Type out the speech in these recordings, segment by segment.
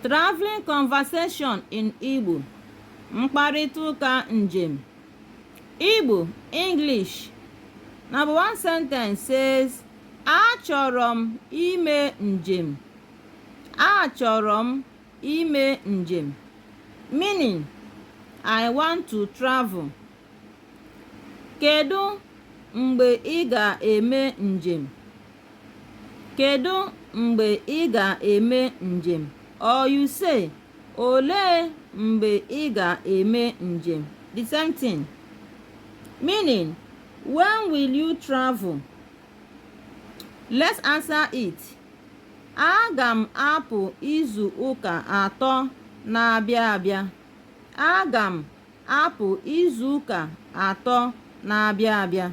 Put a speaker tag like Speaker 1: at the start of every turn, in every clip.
Speaker 1: Traveling conversation in Igbo mkparịta ụka njem Igbo English Number one sentence says achọrọ m ime njem achọrọ m ime njem meaning I want to travel Kedu mgbe ị ga-eme njem? Kedu mgbe ị ga-eme njem? Or you say, Olee mgbe ị ga-eme njem? The same thing. Meaning, when will you travel? Let's answer it. Aga m apụ izu ụka atọ na-abịa abịa. Aga m apụ izu ụka atọ na-abịa abịa.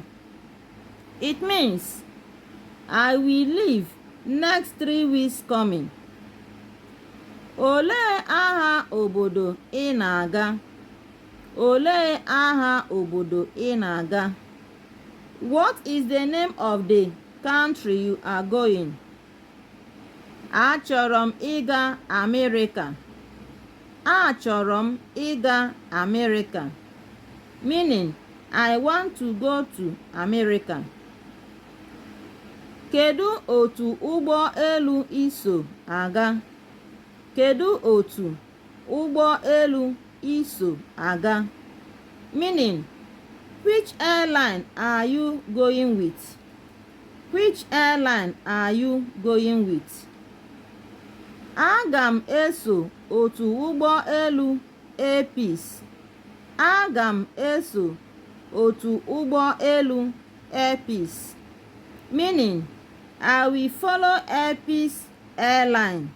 Speaker 1: It means I will leave next three weeks coming. Olee aha obodo ị na-aga? Olee aha obodo ị na-aga? What is the name of the country you are going? Achọrọ m ịga Amerịka. Achọrọ m ịga Amerịka. Meaning, I want to go to America. Kedu otu ụgbọ elu i so aga? Kedu otu ụgbọ elu i so aga? Meaning, which airline are you going with? Which airline are you going with? Aga m eso otu ụgbọ elu Air Peace. Aga m eso otu ụgbọ elu Air Peace. Meaning, I will follow Air Peace airline.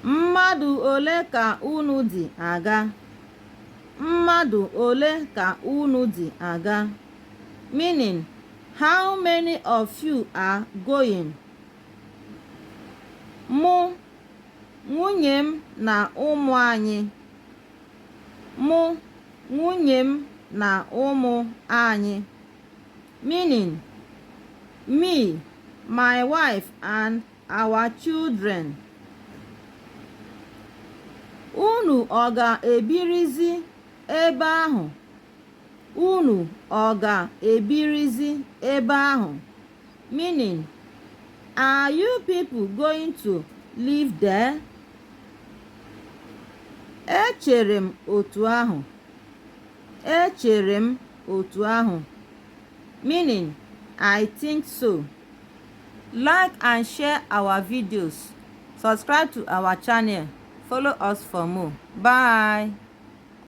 Speaker 1: Mmadụ ole ka unu dị aga? Mmadụ ole ka unu dị aga? Meaning, How many of you are going? Mụ, nwunye m na ụmụ anyị. Mụ, nwunye m na ụmụ anyị. Meaning, Me, my wife and our children. Unu ọ ga-ebirizi ebe ahụ? Unu ọ ga-ebirizi ebe ahụ? Meaning, Are you people going to live there? Echere m otu ahụ. Echere m otu ahụ. Meaning, I think so. Like and share our videos. Subscribe to our channel. Follow us for more. Bye.